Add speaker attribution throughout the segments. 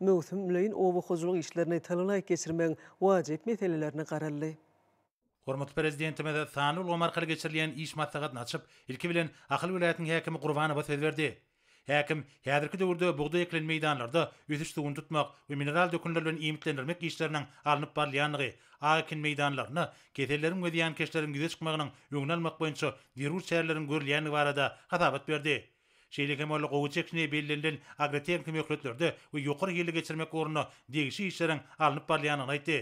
Speaker 1: Möwsümleýin oba hojalyk işlerini talalaýyk geçirmegiň wajyp meselelerine garaldy. Hormatly
Speaker 2: Prezidentimiz sanly ulgam arkaly geçirilýän iş maslahatyny açyp, ilki bilen, Ahal welaýatynyň häkimi Gurbanowa söz berdi. Häkim, häzirki döwürde bugdaý ekilen meýdanlarda ösüş suwuny tutmak we mineral dökünler bilen iýmitlendirmek işleriniň alnyp barylýandygy, ak ekin meýdanlarynda keselleriň we zyýankeşleriň ýüze çykmagynyň öňüni almak boýunça zerur çäreleriň görülýändigi barada hasabat berdi. Şeýle hem ol gowy çekişmegi bellenilen agrotehniki möhletlerde we ýokary hilli geçirmek ugrunda degişli işleriň alnyp barylýandygyny aýtdy.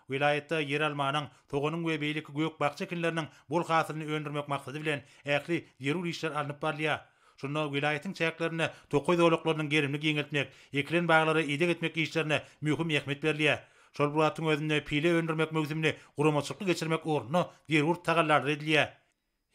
Speaker 2: Welaýatda ýeralmanyň, soganyň we beýleki gök-bakja ekinleriniň bol hasylyny öndürmek maksady bilen ähli zerur işler alnyp barylýar. Şunda welaýatyň çäklerinde tokaý zolaklarynyň gerimini giňeltmek, ekilen baglara ideg etmek işlerine möhüm ähmiýet berilýär. Şol bir wagtyň özünde pile öndürmek möwsümini guramaçylykly geçirmek ugrunda zerur tagallalar edilýär.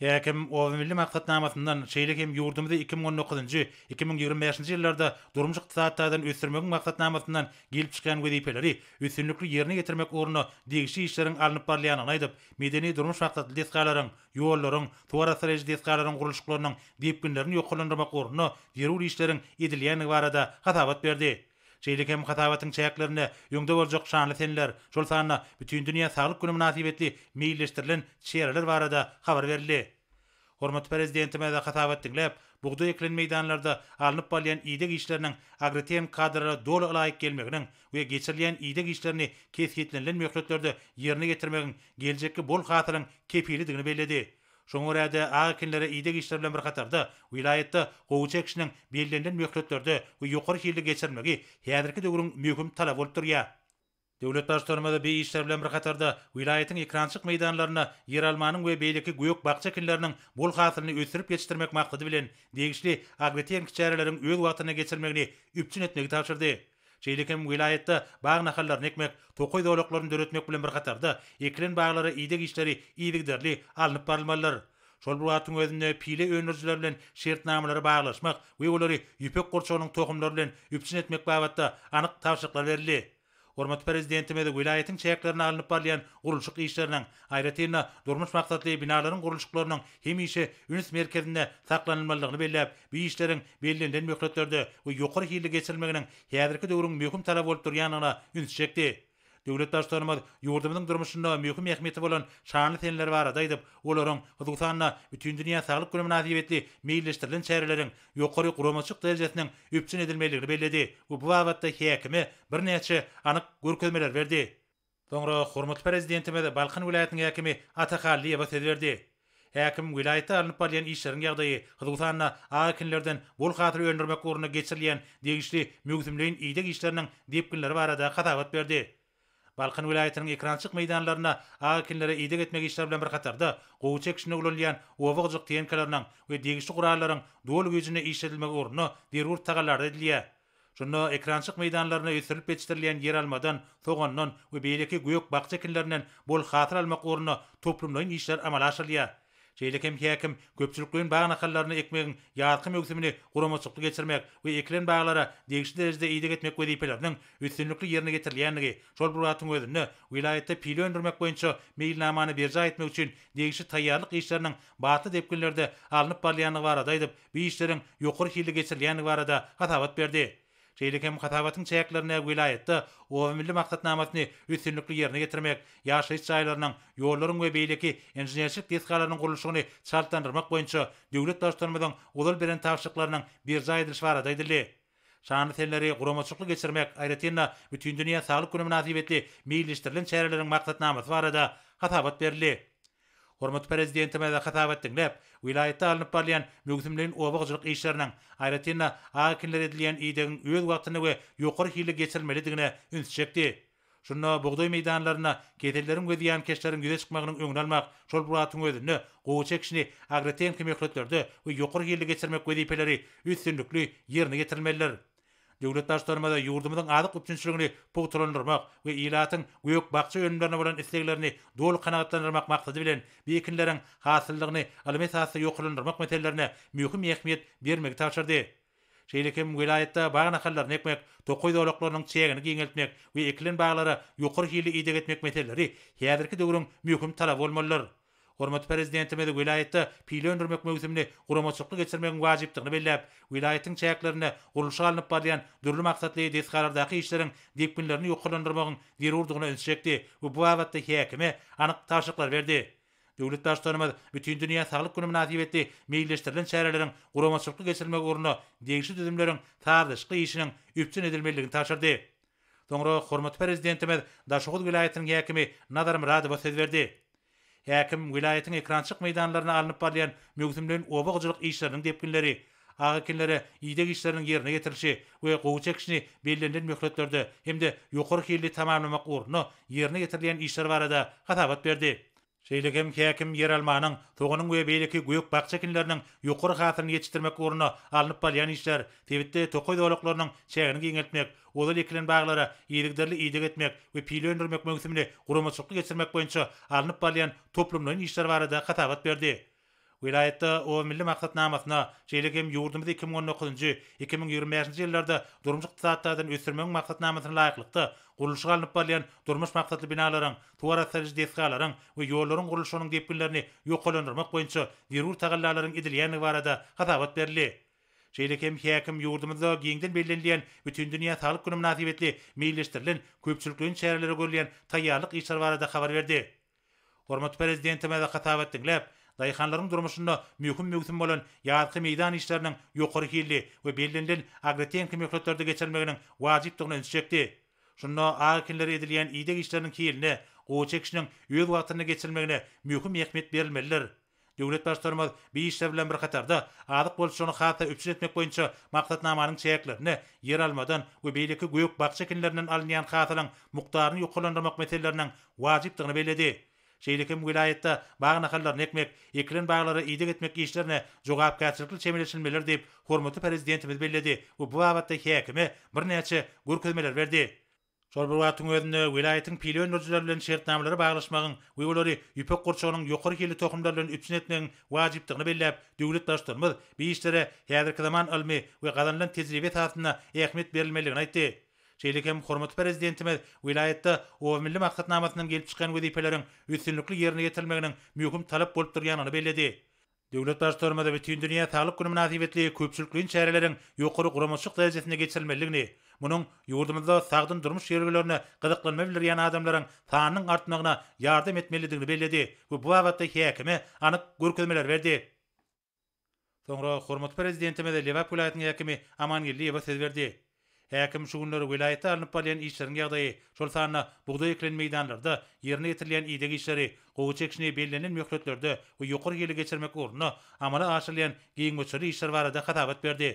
Speaker 2: Häkim Obamilli maksatnamasyndan, şeýle hem ýurdumyzy iki müň on dokuzynjy, iki müň ýigrimi bäşinji ýyllarda durmuş-ykdysady taýdan ösdürmegiň maksatnamasynyň gelip çykýan wezipeleri üstünlikli ýerine ýetirmek ugrunda degişli işleriň alnyp barylýandygyny aýdyp, medeni-durmuş maksatly desgalaryň, ýollaryň, suwarassalaýjy desgalaryň gurluşyklarynyň depginlerini ýokarlandyrmak ugrunda zerur işleriň edilýändigi barada hasabat berdi. Şeýle hem hasabatyň çäklerinde öňde boljak şanly seneler, şol sanda Bütindünýä saglyk güni mynasybetli meýilleşdirilen çäreler barada habar berildi. Hormatly Prezidentimiz hasabat diňläp, bugdaý ekilen meýdanlarda alnyp barylýan ideg işleriniň agrotehnik kadalara doly ylaýyk gelmeginiň we geçirilýän ideg işlerini kesgitlenilen möhletlerde ýerine getirmegiň geljekki bol hasylyň kepilidigini belledi. Şoňa görä-de, ak ekinlere ideg işleri bilen bir hatarda, welaýatda gowy çekişiniň bellenilen möhletlerde we ýokary hilli geçirilmegi häzirki döwrüň möhüm talaby bolup durýar. Döwlet Baştutanymyz bu işler bilen bir hatarda, welaýatyň ekrançyk meýdanlarynda ýeralmanyň we beýleki gök-bakja ekinleriniň bol hasylyny ösdürip ýetişdirmek maksady bilen, degişli agrotehnik çäreleriň öz wagtynda geçirilmegini üpjün etmegi tabşyrdy. Şeýle hem welaýatda bag nahallaryny ekmek, tokaý zolaklaryny döretmek bilen bir hatarda, ekilen baglara ideg işleri yzygiderli alnyp barylmalydyr. Şol bir wagtyň özünde pile öndürijiler bilen şertnamalary baglaşmak we olary ýüpek gurçugynyň tohumlary bilen üpjün etmek babatda anyk tabşyryklar berildi. Hormatly Prezidentimiz welaýatyň çäklerinde alnyp barylýan gurluşyk işleriniň, Aýratyn-da, durmuş maksatly binalaryň gurluşyklarynyň hemişe üns merkezinde saklanylmalydygyny belläp, bu işleriň bellenilen möhletlerde we ýokary hilli geçirilmeginiň häzirki döwrüň möhüm talaby bolup durýandygyna ünsi çekdi. Döwlet Baştutanymyz ýurdumyzyň durmuşynda möhüm ähmiýeti bolan şanly seneler barada aýdyp, olaryň, hususan-da, Bütindünýä saglyk güni mynasybetli meýilleşdirilen çäreleriň ýokary guramaçylyk derejesiniň üpjün edilmelidigini belledi we bu babatda häkime birnäçe anyk görkezmeleri berdi. Soňra hormatly Prezidentimiz Balkan welaýatynyň häkimi Ata Hallyýewe söz berdi. Häkim welaýatda alnyp barylýan işleriň ýagdaýy, hususan-da, ak ekinlerden bol hasyl öndürmek ugrunda geçirilýän degişli möwsümleýin ideg işleriniň depginleri barada hasabat berdi. Balkan welaýatynyň ekerançylyk meýdanlarynda ak ekinlere ideg etmek işleri bilen bir hatarda, gowy çekişinde ulanylýan oba-gyjyk tenkalarynyň we degişli gurallaryň doly güýjünde işledilmegi ugrunda zerur tagallalar edilýär. Şunda ekrançyk meýdanlaryna ösdürilip ýetişdirilýän ýeralmadan, sogandan we beýleki gök-bakja ekinlerinden bol hasyl almak ugrunda toplumlaýyn işler amala aşyrylýar. Şeýle hem häkim köpçülikleýin bag nahallaryny ekmegiň ýazky möwsümini guramaçylykly geçirmek we ekilen baglara degişli derejede ideg etmek wezipeleriniň üstünlikli ýerine ýetirilýändigi, şol bir wagtyň özünde welaýatda pile öndürmek boýunça meýilnamany berjaý etmek üçin degişli taýýarlyk işleriniň batly depginlerde alnyp barylýandygy barada aýdyp, bu işleriň ýokary hilli geçirilýändigi barada hasabat berdi. Şeýle hem hasabatyň çäklerinde welaýatda Oba milli maksatnamasyny üstünlikli ýerine ýetirmek, ýaşaýyş jaýlarynyň, ýollaryň we beýleki inženerçilik desgalarynyň gurluşygyny çaltlandyrmak boýunça döwlet Baştutanymyzyň ozal beren tabşyryklarynyň berjaý edilişi barada aýdyldy. Şanly senleri guramaçylykly geçirmek, aýratyn-da, Bütindünýä saglyk güni mynasybetli meýilleşdirilen çäreleriň maksatnamasy barada hasabat berildi. Hormatly Prezidentimize hasabat diňläp, welaýatda alnyp barylýan möwsümleýin oba hojalyk işleriniň, aýratyn-da, ak ekinlere edilýän idegiň öz wagtynda we ýokary hilli geçirilmelidigine üns çekdi. Şunda bugdaý meýdanlarynda keselleriň we zyýankeşleriň ýüze çykmagynyň öňüni almak, şol bir wagtyň özünde gowaça ekişini agrotehniki möhletlerde we ýokary hilli geçirmek wezipeleri üstünlikli ýerine ýetirilmelidir. Döwlet Baştutanymyz ýurdumyzyň azyk üpjünçiligini pugtalandyrmak we ilatyň gök-bakja önümlerine bolan isleglerini doly kanagatlandyrmak maksady bilen, bu ekinleriň hasyllygyny ylmy esasda ýokarlandyrmak meselelerine möhüm ähmiýet bermegi tabşyrdy. Şeýle hem welaýatda bag nahallaryny ekmek, tokaý zolaklarynyň çägini giňeltmek we ekilen baglara ýokary hilli ideg etmek meseleleri häzirki döwrüň möhüm talaby bolmalydyr. Hormatly Prezidentimiz welaýatda pile öndürmek möwsümini guramaçylykly geçirmegiň wajypdygyny belläp, welaýatyň çäklerinde gurluşy alnyp barylýan dürli maksatly desgalardaky işleriň depginlerini ýokarlandyrmagyň zerurdygyna ünsi çekdi we bu babatda häkime anyk tabşyryklary berdi. Döwlet Baştutanymyz Bütindünýä saglyk güni mynasybetli meýilleşdirilen çäreleriň guramaçylykly geçirilmegi ugrunda degişli düzümleriň sazlaşykly işiniň üpjün edilmelidigini tabşyrdy. Soňra hormatly Prezidentimiz Daşoguz welaýatynyň häkimi Nazar Myradowa söz berdi. Häkim welaýatyň ekrançyk meýdanlarynda alnyp barylýan möwsümleýin oba hojalyk işleriniň depginleri, ak ekinlere ideg işleriniň ýerine ýetirilişi we gowy çekişini bellenilen möhletlerde hem-de ýokary hilli tamamlamak ugrunda ýerine ýetirilýän işler barada hasabat berdi. Şeýle hem häkim ýeralmanyň, soganyň we beýleki gök-bakja ekinleriniň ýokary hasylyny ýetişdirmek ugrunda alnyp barylýan işler, sebitde tokaý zolaklarynyň çägini giňeltmek, Ozal ekilen baglara yzygiderli ideg etmek we pile öndürmek möwsümini guramaçylykly geçirmek boýunça alnyp barylýan toplumlaýyn işler barada hasabat berdi. Welaýatda Oba milli maksatnamasyna, şeýle hem ýurdumyzy iki müň on dokuzynjy, iki müň ýigrimi bäşinji ýyllarda durmuş-ykdysady taýdan ösdürmegiň maksatnamasyna laýyklykda gurluşygy alnyp barylýan durmuş maksatly binalaryň, suw arassaýdyjy desgalaryň we ýollaryň gurluşygynyň depginlerini ýokarlandyrmak boýunça zerur tagallalaryň edilýändigi barada hasabat berildi. Şeýle hem häkim ýurdumyzda giňden bellenilýän Bütindünýä saglyk güni mynasybetli meýilleşdirilen köpçülikleýin çärelere görülýän taýýarlyk işleri barada habar berdi. Hormatly Prezidentimiz hasabat diňläp, daýhanlaryň durmuşynda möhüm möwsüm bolan ýazky meýdan işleriniň ýokary hilli we bellenilen agrotehniki möhletlerde geçirilmeginiň wajypdygyna ünsi çekdi. Şunda agy ekinlere edilýän ideg işleriniň hilinde, gowaça ekişiniň öz wagtynda geçirilmegine möhüm ähmiýet berilmelidir. Döwlet Baştutanymyz bu işler bilen bir hatarda, azyk bolçulygyny has-da üpjün etmek boýunça maksatnamanyň çäklerinde ýeralmadan we beýleki gök-bakja ekinlerinden alynýan hasylyň mukdaryny ýokarlandyrmak meseleleriniň wajypdygyny belledi. Şeýle hem welaýatda bag nahallaryny ekmek, ekilen baglara ideg etmek işlerine jogapkärçilikli çemeleşilmelidir diýip, hormatly Prezidentimiz belledi we bu babatda häkime birnäçe görkezmeler berdi. Şol bir wagtyň özünde welaýatyň pile öndürijileri bilen şertnamalary baglaşmagyň we olary ýüpek gurçugynyň ýokary hilli tohumlary bilen üpjün etmegiň wajypdygyny belläp, döwlet Baştutanymyz bu işlere häzirki zaman ylmy we gazanylan tejribe esasynda ähmiýet berilmelidigini aýtdy. Şeýle hem hormatly Prezidentimiz welaýatda Oba milli maksatnamasyndan gelip çykýan wezipeleriň üstünlikli ýerine ýetirilmeginiň möhüm talap bolup durýandygyny belledi Döwlet Baştutanymyz Bütindünýä saglyk güni mynasybetli köpçülikleýin çäreleriň ýokary guramaçylyk derejesinde geçirilmelidigini, munuň ýurdumyzda sagdyn durmuş ýörelgelerine gyzyklanma bildirýän adamlaryň sanynyň artmagyna ýardam etmelidigini belledi we bu babatda häkime anyk görkezmeler berdi. Soňra hormatly Prezidentimiz Lebap welaýatynyň häkimi Amangeldiýewe söz berdi. Häkim şu günler welaýatda alnyp barylýan işleriň ýagdaýy, şol sanda bugdaý ekilen meýdanlarda ýerine ýetirilýän ideg işleri, gowaça ekişini bellenilen möhletlerde we ýokary hili geçirmek ugrunda amala aşyrylýan giň möçberli işler barada hasabat berdi.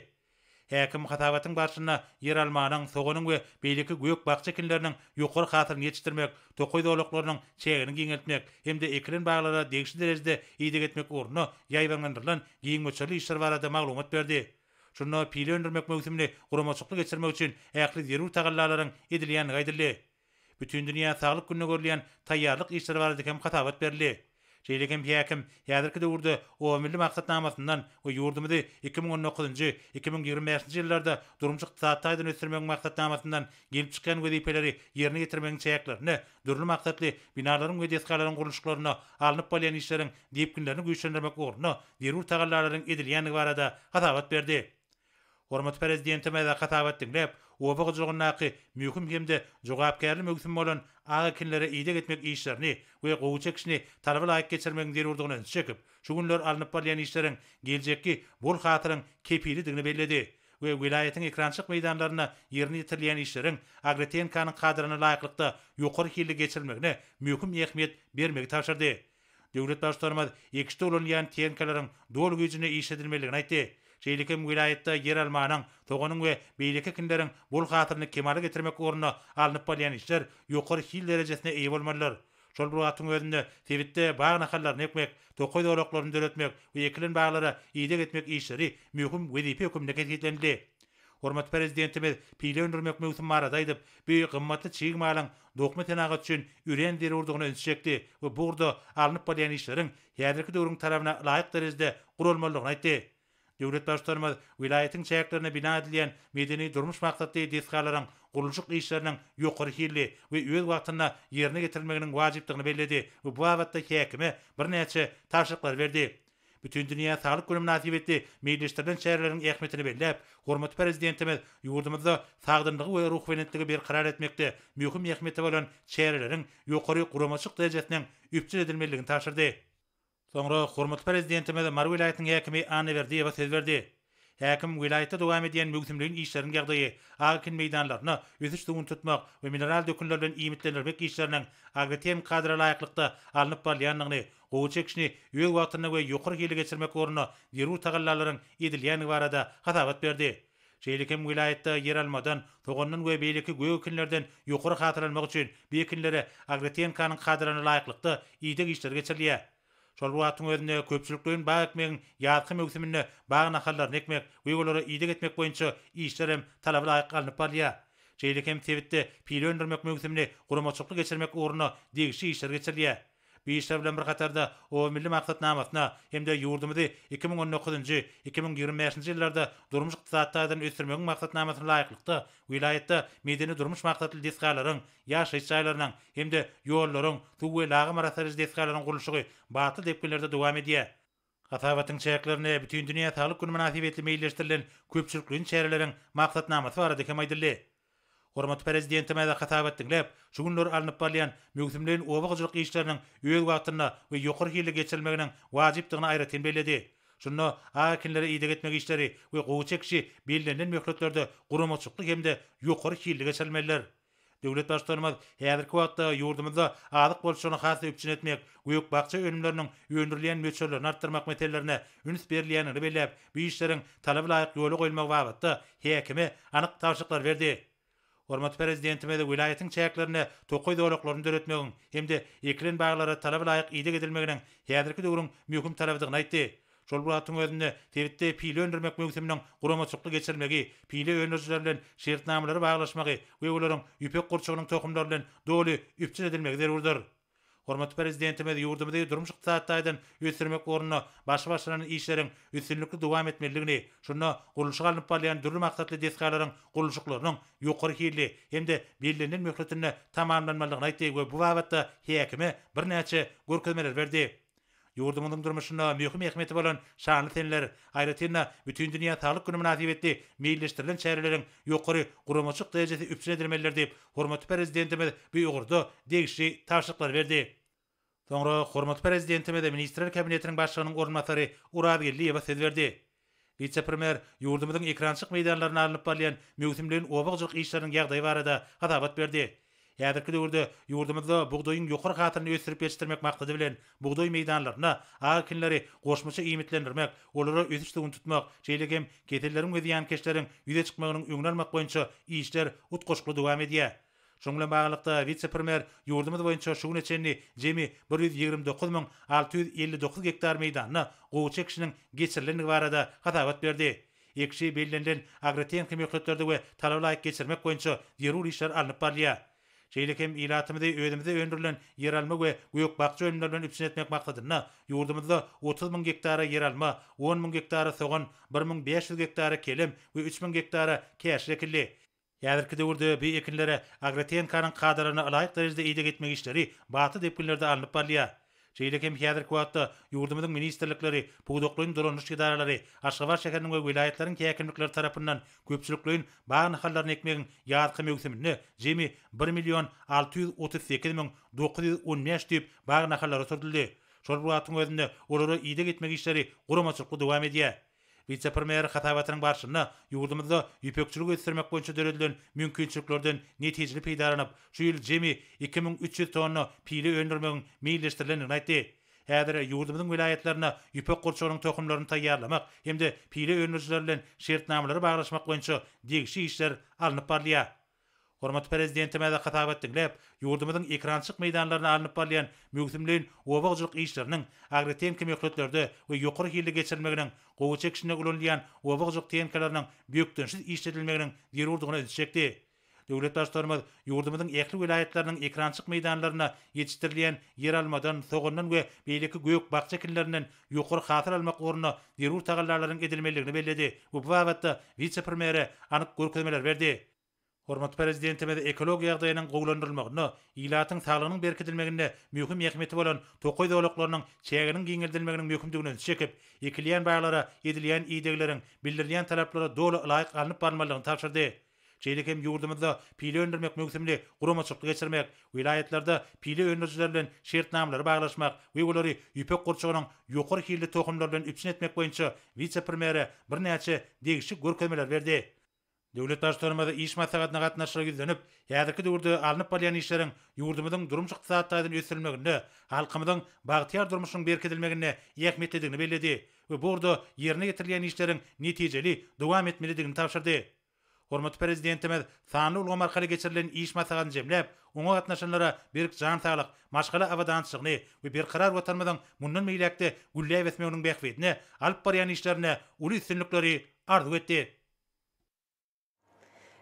Speaker 2: Häkim hasabatyň barşynda ýeralmanyň, soganyň we beýleki gök-bakja ekinleriniň ýokary hasylyny ýetişdirmek, tokaý zolaklarynyň çägini giňeltmek hem-de ekilen baglara degişli derejede ideg etmek ugrunda ýaýbaňlandyrylan giň möçberli işler barada maglumat berdi. Şunda pile öndürmek möwsümini guramaçykly geçirmek üçin ähli zerur tagallalaryň edilýändigi aýdyldy. Bütindünýä saglyk gününe görülýän taýýarlyk işleri barada hem hasabat berildi. Şeýle hem häkim häzirki döwürde Oba milli maksatnamasyndan we ýurdumyzy iki müň on dokuzynjy, iki müň ýigrimi bäşinji ýyllarda durmuş-ykdysady taýdan ösdürmegiň maksatnamasyndan gelip çykýan wezipeleri ýerine ýetirmegiň çäklerinde dürli maksatly binalaryň we desgalaryň gurluşyklarynda alnyp barylýan işleriň depginlerini güýçlendirmek ugrunda zerur tagallalaryň edilýändigi barada hasabat berdi. Hormatly Prezidentimize hasabat diňläp, oba hojalygyndaky möhüm hem-de jogapkärli möwsüm bolan ak ekinlere ideg etmek işlerini we gowy çekişini talaba laýyk geçirmegiň zerurdygyna ünsi çekip, şu günler alnyp barylýan işleriň geljekki bol hasylyň kepilidigini belledi. we welaýatyň ekrançylyk meýdanlarynda ýerine ýetirilýän işleriň Agretenkanyň kadryna laýyklykda ýokary hilli geçirilmegine möhüm ähmiýet bermegi tabşyrdy. Döwlet Baştutanymyz ekişde ulanylýan tehnikalaryň doly güýjünde işledilmelidigini aýtdy. Şeýle hem welaýatda ýeralmanyň, soganyň we beýleki ekinleriň bol hasylyny kemala getirmek ugrunda alnyp barylýan işler ýokary hil derejesine eýe bolmalydyr. Şol bir wagtyň özünde sebitde bag nahallaryny ekmek, tokaý zolaklaryny döretmek we ekilen baglara ideg etmek işleri möhüm wezipe hökümde kesgitlenildi. Hormatly Prezidentimiz pile öndürmek möwsümi barada aýdyp, bu gymmatly çig malyň dokma senagaty üçin örän zerurdygyna ünsi çekdi we bu ugurda alnyp barylýan işleriň häzirki döwrüň talabyna laýyk derejede guralmalydygyny aýtdy. Döwlet Baştutanymyz welaýatyň çäklerinde bina edilýän medeni-durmuş maksatly desgalaryň gurluşyk işleriniň ýokary hilli we öz wagtynda ýerine getirilmeginiň wajypdygyny belledi we bu babatda häkime birnäçe tabşyryklary berdi. Bütindünýä saglyk güni mynasybetli meýilleşdirilen çäreleriň ähmiýetini belläp, hormatly Prezidentimiz ýurdumyzda sagdynlygy we ruhubelentligi berkarar etmekde möhüm ähmiýeti bolan çäreleriň ýokary guramaçylyk derejesiniň üpjün edilmelidigini tabşyrdy. Soňra hormatly Prezidentimiz Mary welaýatynyň häkimi Anna Berdiýewa söz berdi. Häkim welaýatda dowam edýän möwsümleýin işleriň ýagdaýy, ak ekin meýdanlaryny ösüş suwuny tutmak we mineral dökünler bilen iýmitlendirmek işleriniň agrotehniki kadra laýyklykda alnyp barylýandygyny, gowy çekişini öz wagtynda we ýokary hilli geçirmek ugrunda zerur tagallalaryň edilýändigi barada hasabat berdi. Şeýle hem welaýatda ýeralmadan, sogandan we beýleki gök ekinlerden ýokary hasyl almak üçin bu ekinlere agrotehnikaň kadalaryna laýyklykda ideg işleri geçirilýär. Şol bir wagtyň özünde köpçülikleýin bag ekmegiň ýazky möwsüminde bag nahallaryny ekmek we olara ideg etmek boýunça işler hem talaba laýyk alnyp barylýar. Şeýle hem sebitde pile öndürmek möwsümini guramaçylykly geçirmek ugrunda degişli işler geçirilýär. Bu işler bilen bir hatarda, oba milli maksatnamasyna hem-de ýurdumyzy iki müň on dokuzynjy, iki müň ýigrimi bäşinji ýyllarda durmuş-ykdysady taýdan ösdürmegiň maksatnamasyna laýyklykda, wilaýatda medeni-durmuş maksatly desgalaryň, ýaşaýyş jaýlarynyň hem-de ýollaryň, suw we lagym arassaýjy desgalaryň gurluşygy batly depginlerde dowam edýär. Hasabatyň çäklerinde Bütindünýä saglyk güni mynasybetli meýilleşdirilen köpçülikleýin çäreleriň maksatnamasy barada hem aýdyldy. Hormatly Prezidentimiz hasabat diňläp, şu günler alnyp barylýan möwsümleýin oba hojalyk işleriniň öz wagtynda we ýokary hilli geçirilmeginiň wajypdygyny aýratyn belledi. Şunda ak ekinlere ideg etmek işleri we gowy çekişi bellenilen möhletlerde guramaçylykly hem-de ýokary hilli geçirilmelidir. Döwlet Baştutanymyz häzirki wagtda ýurdumyzda azyk bolçulygyny has-da üpjün etmek, gök-bakja önümleriniň öndürilýän möçberlerini artdyrmak meselelerine üns berilýändigini belläp, bu işleriň talaba laýyk ýola goýulmagy babatda häkime anyk tabşyryklary berdi. Hormatly Prezidentimiz welaýatyň çäklerinde tokaý zolaklaryny döretmegiň hem-de ekilen baglara talaba laýyk ideg edilmeginiň häzirki döwrüň möhüm talabydygyny aýtdy. Şol bir wagtyň özünde, sebitde pile öndürmek möwsüminiň guramaçykly geçirilmegi, pile öndürijiler bilen şertnamalary baglaşmagy we olaryň ýüpek gurçugynyň tohumlary bilen doly üpjün edilmegi zerurdyr. Hormatly Prezidentimiz ýurdumyzy durmuş-ykdysady taýdan ösdürmek ugrunda başy başlanan işleriň üstünlikli dowam etmelidigini, şunda gurluşyga alnyp barylýan dürli maksatly desgalaryň gurluşyklarynyň ýokary hilli hem-de bellenilen möhletinde tamamlanmalydygyny aýtdy we bu babatda häkime birnäçe görkezmeler berdi. Ýurdumyzyň durmuşynda möhüm ähmiýeti bolan şanly senler, aýratyn-da, Bütindünýä saglyk güni mynasybetli meýilleşdirilen çäreleriň ýokary guramaçylyk derejesi üpjün edilmelidir diýip, hormatly Prezidentimiz bu ugurda degişli tabşyryklary berdi. Soňra hormatly Prezidentimiz Ministrler Kabinetiniň Başlygynyň orunbasary Oraz Geldiýewe söz berdi. Wise-premýer ýurdumyzyň ekrançylyk meýdanlarynda alnyp barylýan möwsümleýin oba hojalyk işleriniň ýagdaýy barada hasabat berdi. Häzirki döwürde ýurdumyzda bugdaýyň ýokary hasylyny ösdürip ýetişdirmek maksady bilen, bugdaý meýdanlaryny, ak ekinleri goşmaça iýmitlendirmek, olara ösüş suwuny tutmak, şeýle hem keselleriň we zyýankeşleriň ýüze çykmagynyň öňüni almak boýunça işler utgaşykly dowam edýär. Şunuň bilen baglylykda, wise-premýer ýurdumyz boýunça şu güne çenli jemi bir ýüz ýigrimi dokuz müň alty ýüz elli dokuz gektar meýdanda gowaça ekişiniň geçirilendigi barada hasabat berdi. Ekişi bellenilen agrotehniki möhletlerde we talaba laýyk geçirmek boýunça zerur işler alnyp barylýar. Şeýle hem ilatymyzy özümizde öndürilen ýeralma we gök-bakja önümleri bilen üpjün etmek maksadynda ýurdumyzda otuz müň gektara ýeralma, on müň gektara sogan, bir müň bäş ýüz gektara kelem we üç müň gektara käşir ekildi. Häzirki döwürde bu ekinlere agrotehnikanyň kadalaryna ylaýyk derejede ideg etmek işleri batly depginlerde alnyp barylýar. Şeýle hem häzirki wagtda ýurdumyzyň ministrlikleri, pudaklaýyn dolanyş edaralary, Aşgabat şäheriniň we welaýatlaryň häkimlikleri tarapyndan köpçülikleýin bag nahallaryny ekmegiň ýazky möwsüminde jemi bir million alty ýüz otuz sekiz müň dokuz ýüz on bäş düýp bag nahallary oturdyldy. Şol bir wagtyň özünde olara ideg etmek işleri guramaçylykly dowam edýär. Wise-premýer hasabatynyň barşynda ýurdumyzda ýüpekçiligi ösdürmek boýunça döredilen mümkinçiliklerden netijeli peýdalanyp, şu ýyl jemi iki müň üç ýüz tonna pile öndürmegiň meýilleşdirilendigini aýtdy. Häzir ýurdumyzyň welaýatlarynda ýüpek gurçugynyň tohumlaryny taýýarlamak hem-de pile öndürijiler bilen şertnamalary baglaşmak boýunça degişli işler alnyp barylýar. Hormatly Prezidentimize hasabat diňläp, ýurdumyzyň ekrançyk meýdanlarynda alnyp barylýan möwsümleýin oba hojalyk işleriniň agrotehniki möhletlerde we ýokary hilli geçirilmeginiň, gowy çekişinde ulanylýan oba hojalyk tehnikalarynyň bökdençsiz işledilmeginiň zerurdygyna ünsi çekdi. Döwlet Baştutanymyz ýurdumyzyň ähli welaýatlarynyň ekrançyk meýdanlarynda ýetişdirilýän ýeralmadan, sogandan we beýleki gök-bakja ekinlerinden ýokary hasyl almak ugrunda zerur tagallalaryň edilmelidigini belledi we bu babatda wise-premýere anyk görkezmeler berdi. Hormatly Prezidentimiz ekologiýa ýagdaýynyň gowulandyrylmagynda, ilatyň saglygynyň berkidilmeginde möhüm ähmiýeti bolan tokaý zolaklarynyň çäginiň giňeldilmeginiň möhümdigine ünsi çekip, ekilýän baglara edilýän idegleriň, bildirilýän talaplara doly ylaýyk alnyp barylmalydygyny tabşyrdy. Şeýle hem ýurdumyzda pile öndürmek möwsümini guramaçylykly geçirmek, welaýatlarda pile öndürijiler bilen şertnamalary baglaşmak we olary ýüpek gurçugynyň ýokary hilli tohumlary bilen üpjün etmek boýunça wise-premýere birnäçe degişli görkezmeleri berdi. Döwlet Baştutanymyz iş maslahatyna gatnaşyjylara ýüzlenip, häzirki döwürde alnyp barylýan işleriň ýurdumyzyň durmuş-ykdysady taýdan ösdürilmeginde, halkymyzyň bagtyýar durmuşynyň berkidilmeginde ähmiýetlidigini belledi we bu ugurda ýerine ýetirilýän işleriň netijeli dowam etmelidigini tabşyrdy. Hormatly Prezidentimiz sanly ulgam arkaly geçirilen iş maslahatyny jemläp, oňa gatnaşanlara berk jan saglyk, maşgala abadançylygyny we berkarar Watanymyzyň mundan beýläk-de gülläp ösmeginiň bähbidine alyp barýan işlerinde uly üstünlikleri arzuw etdi.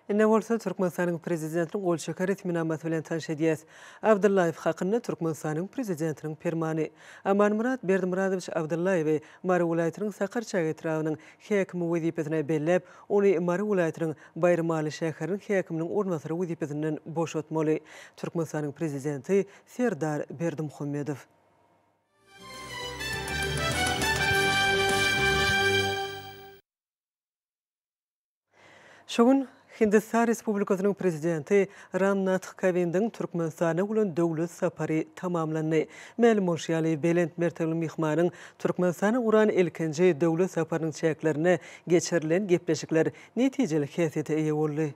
Speaker 1: Ine bolsa, Türkmenistanyň Prezidentiniň gol çeken resminamasy bilen tanyş edýäs. Abdyllaýew hakynda Türkmenistanyň Prezidentiniň Permany. Amanmyrat Berdimyradowiç Abdyllaýewi Mary welaýatynyň Sakarçäge etrabynyň häkimi wezipesine belläp, Ony Mary welaýatynyň Baýramaly şäheriniň häkiminiň orunbasary wezipesinden boşatmaly. Türkmenistanyň Prezidenti Serdar Berdimuhamedow. Şu gün Hindistan Respublikasynyň Prezidenti Ram Nath Kowindiň Türkmenistana bolan döwlet sapary tamamlandy. Mälim bolşy ýaly, belent mertebeli myhmanyň Türkmenistana guran ilkinji döwlet saparynyň çäklerinde geçirilen gepleşikler netijeli häsiýete eýe boldy.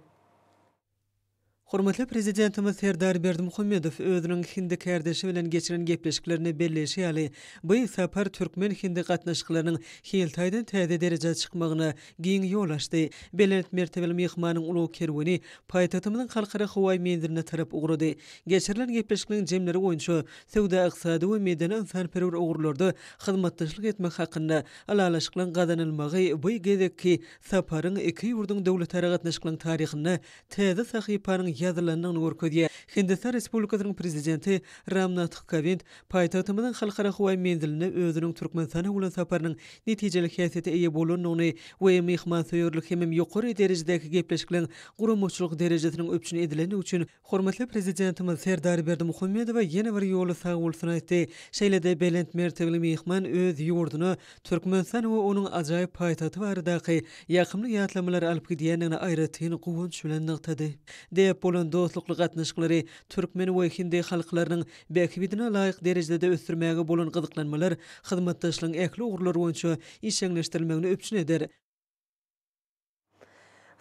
Speaker 1: Hormatly Prezidentimiz Serdar Berdimuhamedow özüniň hindi kärdeşi bilen geçiren gepleşiklerinde belleýşi ýaly, bu sapar türkmen-hindi gatnaşyklarynyň hil taýdan täze derejä çykmagyna giň ýol açdy. Belent mertebeli myhmanyň ulag kerweni paýtagtymyzyň Halkara howaý menziline tarap ugrady. Geçirilen gepleşikliň jemleri boýunça söwda-ykdysady we medeni-ynsanperwer ugurlarda hyzmatdaşlyk etmek hakynda Ylalaşyklaryň gazanylmagy bu gezekki saparyň iki ýurduň döwletara gatnaşyklaryň taryhynda täze sahypanyň ýazylandygyny görkezýär. Hindistan Respublikasynyň Prezidenti Ram Nath Kowind paýtagtymyzyň Halkara howa menziline özüniň Türkmenistana bolan saparynyň netijeli häsiýete eýe bolandygyny we myhmansöýerlik hemem ýokary derejedäki gepleşikleriň guramaçylyk derejesiniň üpjün edilendigi üçin Hormatly Prezidentimiz Serdar Berdimuhamedowa ýene bir ýola sag bolsun aýtdy. Şeýle-de belent mertebeli myhman öz ýurduna, Türkmenistana we onuň ajaýyp paýtagty baradaky ýakymly ýatlamalary alyp gidýändigini aýratyn guwanç bilen nygtady. Däp bolan dostlukly gatnaşyklary türkmen we hindi halklarynyň bähbidine laýyk derejede ösdürmäge bolan gyzyklanmalar hyzmatdaşlygyň ähli ugurlary boýunça işjeňleşdirilmegini üpjün eder.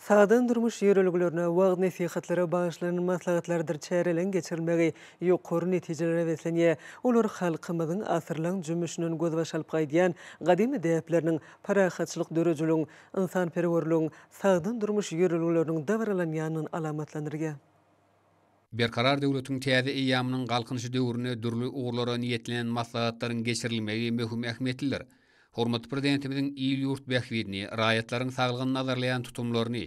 Speaker 1: Sagdyn durmuş ýörelgelerine, wagyz-nesihatlara bagyşlanan maslahatlardyr çäreleriň geçirilmegi ýokary netijelere beslenýär. Olar halkymyzyň asyrlaň jümmüşinden gözbaş alyp gaýdýan gadymy däpleriniň, parahatçylyk döredijiligiň, ynsanperwerligiň, sagdyn durmuş ýörelgeleriniň dabaralanýandygyny alamatlandyrýar.
Speaker 3: Berkarar döwletiň täze eýýamynyň Galkynyşy döwründe dürli ugurlara niýetlenen maslahatlaryň geçirilmegi möhüm ähmiýetlidir. Hormatly Prezidentimiziň il-ýurt bähbidini, raýatlaryň saglygyny nazarlaýan tutumlaryny,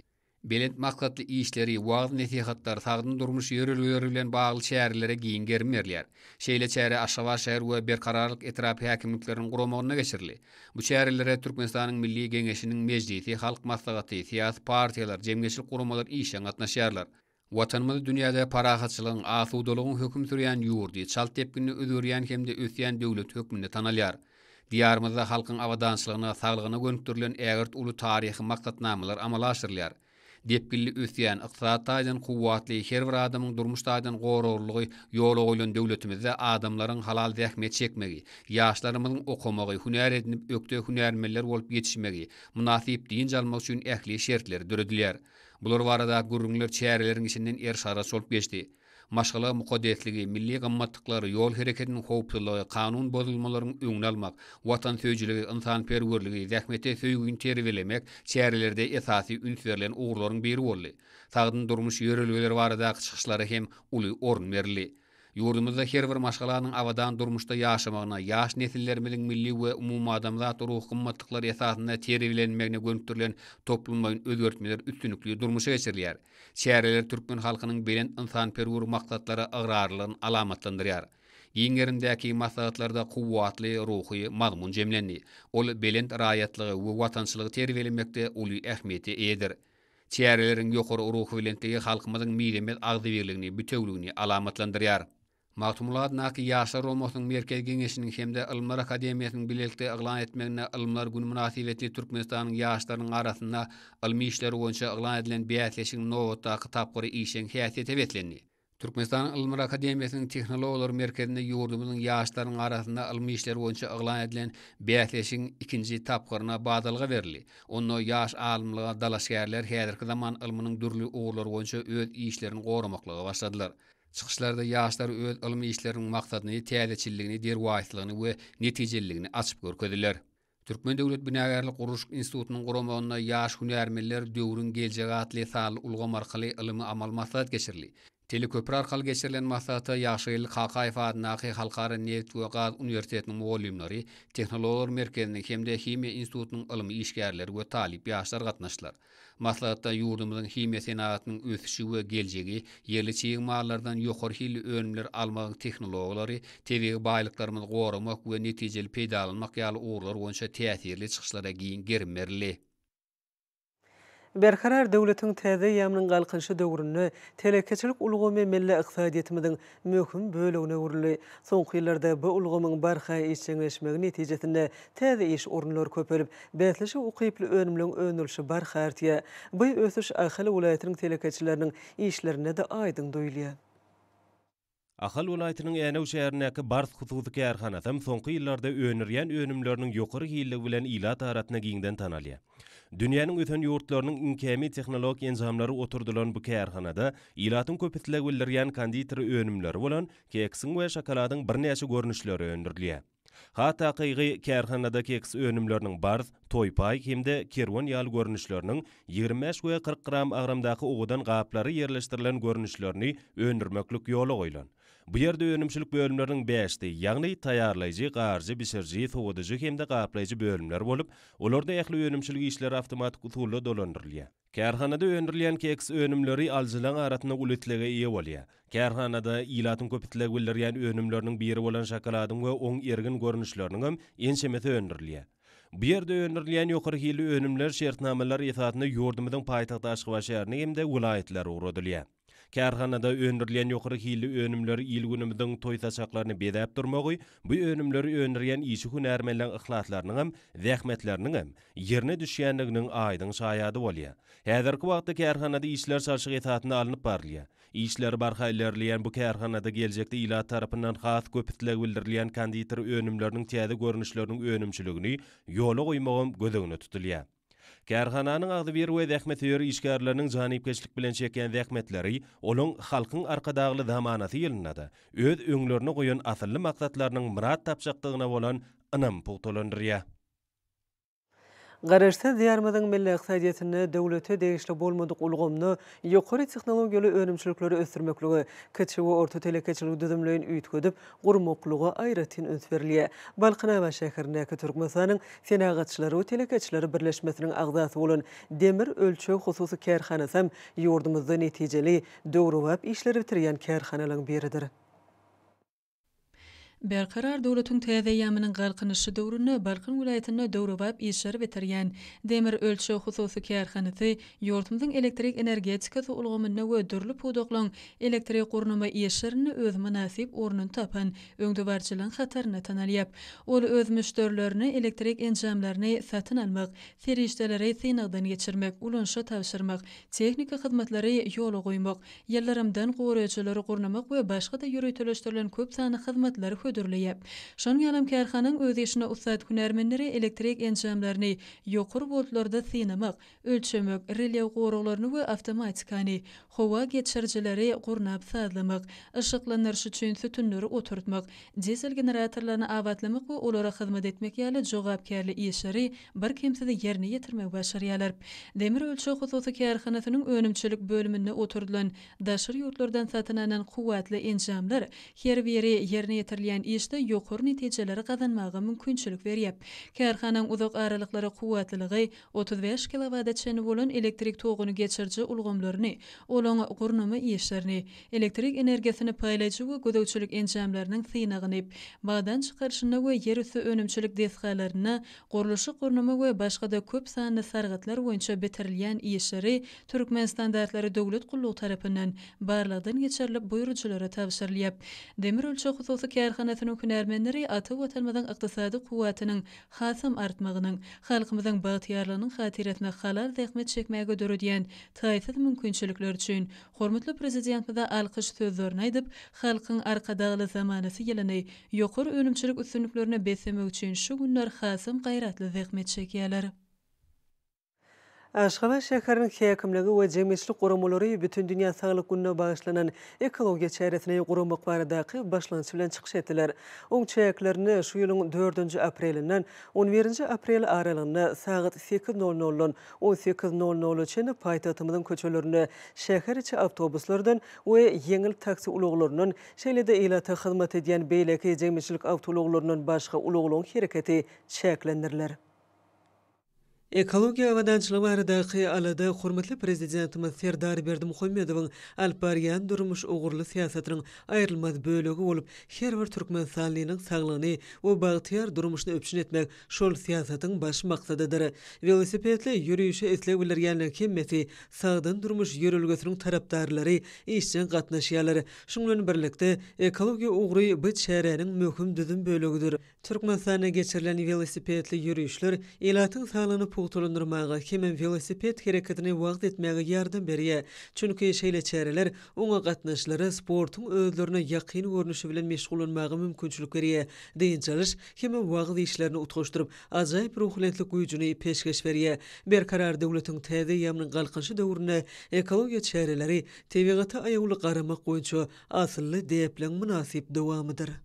Speaker 3: belent maksatly işleri, wagyz-nesihatlar, sagdyn durmuş ýörelgeleri bilen bagly çärelere giň gerim berilýär. Şeýle çäre Aşgabat şäher we Berkararlyk etrap häkimlikleriniň guramagynda geçirildi. Bu çärelere Türkmenistanyň Milli Geňeşiniň Mejlisi, Halk Maslahaty, syýasy partiýalar, jemgyýetçilik guramalar işjeň gatnaşýarlar. Watanymyz dünýäde parahatçylygyň, asudalygyň höküm sürýän ýurdy, çalt depginde özgerýän hem-de ösýän döwlet hökmünde tanalýar. Diýarymyzda halkyň abadançylygyna, saglygyna gönükdirilen ägirt uly taryhy maksatnamalar amala aşyrylýar. Depginli ösýän, ykdysady taýdan kuwwatly, her bir adamyň durmuş taýdan goraglylygy ýola goýlan döwletimizde adamlaryň halal zähmet çekmegi, ýaşlarymyzyň okamagy, hünär edinip, ökde hünärmenler bolup ýetişmegi, mynasyp dynç almagy üçin ähli şertler döredilýär. Bular baradaky gürrüňler çäreleriň içinden er-şaras bolup geçdi. Maşgala mukaddesligi, milli gymmatlyklar, ýol hereketiniň howpsuzlygy, kanun bozulmalaryň öňüni almak, watansöýüjiligi, ynsanperwerligi, zähmete söýgini terbiýelemek çärelerde esasy üns berlen ugurlaryň biri boldy. Sagdyn durmuş ýörelgeleri baradaky çykyşlara hem uly orun berildi. Ýurdumyzda her bir maşgalanyň abadan durmuşda ýaşamagyna, ýaş nesillerimiziň milli we umumadamzat ruhy gymmatlyklary esasynda terbiýelenmegine gönükdirilen toplumlaýyn özgertmeler üstünlikli durmuşa geçirilýär. Çäreler türkmen halkynyň belent ynsanperwer maksatlara ygrarlylygyny alamatlandyrýar. Giň gerimdäki maslahatlarda kuwwatly ruhy mazmun jemlendi. Ol belent raýatlygy we watançylygy terbiýelemekde uly ähmiýete eýedir. Çäreleriň ýokary ruhubelentligi halkymyzyň mizemez agzybirligini, bitewüligini alamatlandyrýar. Magtymguly adyndaky Ýaşlar omasynyň Merkezi geňeşiniň hem-de Ylymlar akademiýasynyň bilelikde yglan etmeginde Ylymlar güni mynasybetli Türkmenistanyň ýaşlarynyň arasynda ylmy işler boýunça yglan edilen bäsleşigiň nobatdaky tapgyry işjeň häsiýete beslendi. Türkmenistanyň Ylymlar akademiýasynyň Tehnologlar merkezinde ýurdumyzyň ýaşlarynyň arasynda ylmy işler boýunça yglan edilen bäsleşigiň ikinji tapgyryna badalga berildi. Onda ýaş alymlyga dalaşgärler häzirki zaman ylmynyň dürli ugurlary boýunça öz işlerini goramaklyga başladylar. Çykyşlarda ýaşlar öz ylmy işleriniň maksadyny, täzeçilligini, derwaýyslygyny we netijeliligini açyp görkezdiler. Türkmen döwlet binagärlik-gurluşyk institutynyň guramagynda Ýaş hünärmenler, döwrüň geljegi atly sanly ulgam arkaly ylmy-amaly maslahat geçirildi. Teleköpri arkaly geçirilen maslahata Ýagşygeldi Kakaýew adyndaky Halkara neft we gaz uniwersitetiniň mugallymlary, Tehnologlar merkeziniň hem-de Himiýa institutynyň ylmy işgärleri we talyp ýaşlar gatnaşdylar. Maslahatda ýurdumyzyň himiýa senagatynyň ösüşi we geljegi, ýerli çig mallardan ýokary hilli önümler almagyň tehnologiýalary, tebigy baýlyklarymyzy goramak we netijeli peýdalanmak ýaly ugurlar boýunça täsirli çykyşlara giň gerim berildi.
Speaker 1: Berkarar döwletiň täze eýýamynyň Galkynyşy döwründe telekeçilik ulgamy milli ykdysadyýetimiziň möhüm bölegine öwrüldi. Soňky ýyllarda bu ulgamyň barha işjeňleşmegi netijesinde täze iş orunlary köpelip, bäsleşige ukyply önümleň öndürilişi barha artýar. Bu ösüş Ahal welaýatynyň telekeçileriniň işlerinde-de aýdyň duýulýar.
Speaker 4: Ahal welaýatynyň Änew şäherindäki Bars hususy kärhanasy hem soňky ýyllarda öndürýän önümleriniň ýokary hilligi bilen ilat arasynda giňden tanalýar. Dünýäniň ösen ýurtlarynyň iň kämil tehnologik enjamlary oturdylan bu kärhanada ilatyň köp isleg bildirýän konditeri önümleri bolan keksiň we şokoladyň birnäçe görnüşleri öndürilýär. Has takygy, kärhanada keks önümleriniň barz, toýpaý hem-de kerwen ýaly görnüşleriniň, ýigrimi bäş we kyrk gram agramdaky owadan gaplary ýerleşdirilen görnüşlerini öndürmeklik ýola goýlan. Bu ýerde önümçilik bölümleriniň bäşdi, ýagny taýýarlaýjy, garjy, bişiriji, sowadyjy hem-de gaplaýjy bölümler bolup, olarda ähli önümçilik işleri awtomatik usulda dolandyrylýar. Kärhanada öndürilýän keks önümleri alyjylaryň arasynda uly islege eýe bolýar. Kärhanada ilatyň köp isleg bildirýän önümleriniň biri bolan şokoladyň we oň ergin görnüşleriniň hem ençemesi öndürilýär. Bu ýerde öndürilýän ýokary hilli önümler şertnamalar esasynda ýurdumyzyň paýtagty Aşgabat şäherine hem-de welaýatlara ugradylýar. Kärhanada öndürilýän ýokary hilli önümler il-günümiziň toý-saçaklaryny bezäp durmagy, bu önümleri öndürýän işçi hünärmenleň yhlaslarynyňam, zähmetleriniňem ýerine düşýändiginiň aýdyň şaýady bolýar. Häzirki wagtda kärhanada işler çalşyk esasynda alnyp barylýar. Işleri barha ilerleýän bu kärhanada geljekde ilat tarapyndan has köp isleg bildirilýän konditer önümleriniň täze görnüşleriniň önümçiligini ýola goýmagam göz öňünde tutulýar. Kärhananyň agzybir we zähmetsöýer işgärleriniň janypkeşlik bilen çekýän zähmetleri olaň Halkyň Arkadagly zamanasy ýylynda-da öz öňlerine goýan asylly maksatlarynyň myrat tapjakdygyna bolan ynamy pugtalandyrýar.
Speaker 1: Garaşsyz Diýarymyzyň milli ykdysadyýetinde döwlete degişli bolmadyk ulgamda ýokary tehnologiýaly önümçilikleri ösdürmeklige, kiçi we orta telekeçiligi düzümleýin üýtgedip, gurmaklyga aýratyn üns berilýär. Balkanabat şäherindäki Türkmenistanyň Senagatçylary we telekeçileri birleşmesiniň agzasy bolan Demir ölçeg hususy kärhanasam ýurdumyzda netijeli, döwrebap işleri bitirýän kärhanalaryň biridir.
Speaker 5: Berkarar döwletiň täze eýýamynyň Galkynyşy döwründe Balkan welaýatynda döwrebap işleri bitirýän Demir ölçeg hususy kärhanasy Ýurdumyzyň elektrik energetikasy ulgamynda we dürli pudaklaryň elektrik gurnama işlerinde öz mynasyp ornuny tapan öňdebaryjylygyň hatarynda tanalýar. Ol öz müşderilerine elektrik enjamlaryny satyn almak, serişdeleri synagdan geçirmek, ulanyşa tabşyrmak, tehniki hyzmatlary ýola goýmak, ýyldyrymdan goraýjylary gurnamak we başga-da ýöriteleşdirilen köp sanly hyzmatlary hödürleýär. Şonuň ýalam kärhananyň öz işinde ussat hünärmenleri elektrik enjamlaryny ýokary woltlarda synamak, ölçemek, relew goraglaryny we awtomatikany, howa geçirijileri gurnap-sazlamak, yşyklandyryş üçin sütünleri oturtmak, dizel generatorlaryny abatlamak we olara hyzmat etmek ýaly jogapkärli işleri birkemsiz ýerine ýetirmegi başarýarlar. Demir ölçeg hususy kärhanasynyň önümçilik bölüminde oturdylan daşary ýurtlardan satyn alnan kuwwatly enjamlar her biri ýerine ýetirilýän işde ýokary netijeleri gazanmaga mümkinçilik berýär. Kärhanaň uzak aralyklara kuwwatlylygy otuz bäş kilowada çenli bolan elektrik toguny geçiriji ulgamlaryny, olaň gurnama işlerini, elektrik energiýasyny paýlaýjy we gözegçilik enjamlarynyň synagyny, bagdan çykaryşynda we ýerüsti önümçilik desgalarynda gurluşyk-gurnama we başga-da köp sanly sargytlar boýunça bitirilýän işleri Türkmenstandartlary döwlet gullugy tarapyndan barlagdan geçirilip buýrujylara tabşyrylýar. Demirölçeg hususy kärhanasynyň hünärmenleri ata Watanymyzyň ykdysady kuwwatynyň hasam artmagynyň, halkymyzyň bagtyýarlygynyň hatyrasyna halal zähmet çekmäge döredýän taýsyz mümkinçilikler üçin hormatly Prezidentimize alkyş sözlerini aýdyp, Halkyň Arkadagly zamanasy ýylyny ýokary önümçilik üstünliklerine beslemek üçin şu günler hasam gaýratly zähmet çekýärler.
Speaker 1: Aşgabat şäheriniň häkimligi we jemgyýetçilik guramalary Bütindünýä saglyk gününe bagyşlanan ekologiýa çäresini guramak baradaky başlangyç bilen çykyş etdiler. Oň çäklerinde şu ýylyň dördünji aprelinden on birinji aprel aralygynda sagat sekiz nol noldan on sekiz nol nola çenli paýtagtymyzyň köçelerinde şäher içi awtobuslardan we ýeňil taksi ulaglaryndan, şeýle-de ilata hyzmat edýän beýleki jemgyýetçilik awtoulaglaryndan başga ulaglaryň hereketi çäklendiriler. Ekologiýa abadançylygy baradaky alada hormatly Prezidentimiz Serdar Berdimuhamedowyň alyp barýan durmuş ugurly syýasatynyň aýrylmaz bölegi bolup, her bir türkmenistanlynyň saglygyny we bagtyýar durmuşyny üpjün etmek şol syýasatyň baş maksadydyr. Welosipedli ýörişe isleg bildirýänleriň hemmesi sagdyn durmuş ýörelgesiniň tarapdarlary işjeň gatnaşýarlar. Şunuň bilen birlikde, ekologiýa ugry bu çäräniň möhüm düzüm bölegidir. Türkmenistanda geçirilen welosipedli ýörişler ilatyň saglygyny pugtalandyrmaga hemem welosiped hereketini wagyz etmäge ýardam berýär, çünki şeýle çäreler oňa gatnaşyjylara sportuň özlerine ýakyn görnüşi bilen meşgullanmaga mümkinçilik berýär, dynç alyş hem-ä wagyz işlerini utgaşdyryp, ajaýyp ruhubelentlik güýjüni peşgeş berýär. Berkarar döwletiň täze eýýamynyň Galkynyşy döwründe ekologiýa çäreleri tebigata aýawly garamak boýunça asylly däpliň mynasyp dowamydyr.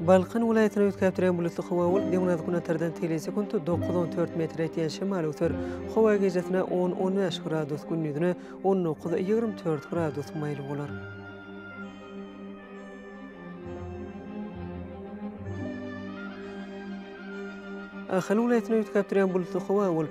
Speaker 1: Balkan welaýatyny üýtgäpdirýän bulutly howa bolup, günorta-günortadan teýlejek sekunt dokuz, on dört metre ýetýän şemal öwser. Howa gijesine on, on bäş gradus, gündizine on dokuz, ýigrimi dört gradus maýyl bolar. Ahal welaýatyny üýtgäpdirýän bulutly howa bolup,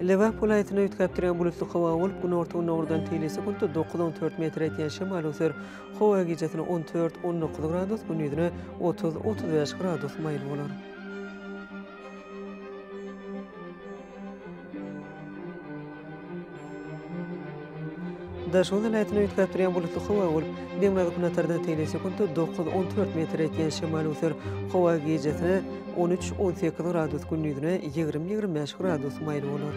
Speaker 1: Lebap welaýatyny üýtgäp durýan bulutly howa bolup, günorta-gündogardan teýlisi günde dokuz on dört metr etýän şemal öser. Howa gijesi on dört-on dokuz gradus, gündizi otuz-otuz bäş gradus maýyl bolar. Daşoguz welaýatyny üýtgäp durýan bulutly howa bolup, demirgazyk günortardan tegelek sekuntda dokuz, on dört metr etýän şemal öser. Howa gijesine on üç, on sekiz gradus, gündizine ýigrimi, ýigrimi bäş gradus maýyl bolar.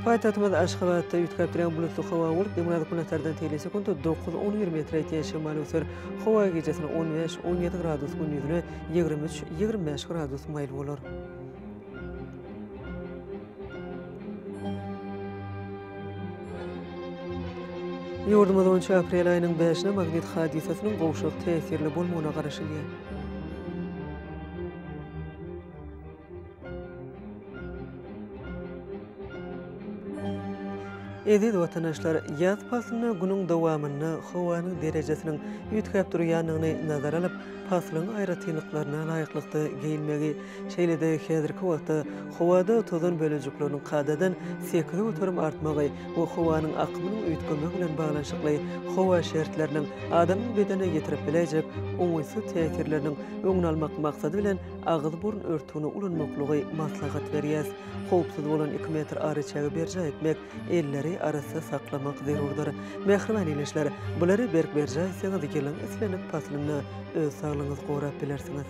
Speaker 1: Paýtagtymyz Aşgabatda üýtgäp durýan bulutly howa bolup, demirgazyk günortadan teýle sekuntda dokuz, on bir metre ýetýän şemal öser. Howa gijesine on bäş, on ýedi gradus, gündiziňe ýigrimi üç, ýigrimi bäş gradus maýyl bolar. Ýurdumyz boýunça aprel aýynyň bäşine magnit hadysasynyň gowşak täsirli bolmagyna garaşylýar. Eziz watandaşlar, ýaz paslynda günüň dowamynda howanyň derejesiniň üýtgäp durýandygyny nazara alyp, paslyň aýratynlyklaryna laýyklykda geýinmegi, şeýle-de häzirki wagtda howada tozan bölejikleriniň kadadan sekiz göterim artmagy we howanyň akymynyň üýtgemegi bilen baglanyşykly howa şertleriniň adamyň bedenine ýetirip biläýjek oňaýsyz täsirleriniň öňüni almak maksady bilen agyz-burun örtügini ulanmaklygy maslahat berýär. Howpsuz bolan iki metr araçägi berjaý etmek, elleri arassa saklamak zerurdyr. Mähriban ildeşler, bulary berk berjaý etseňiz, ýylyň islendik paslynda öz saglygyňyzy gorap bilersiňiz.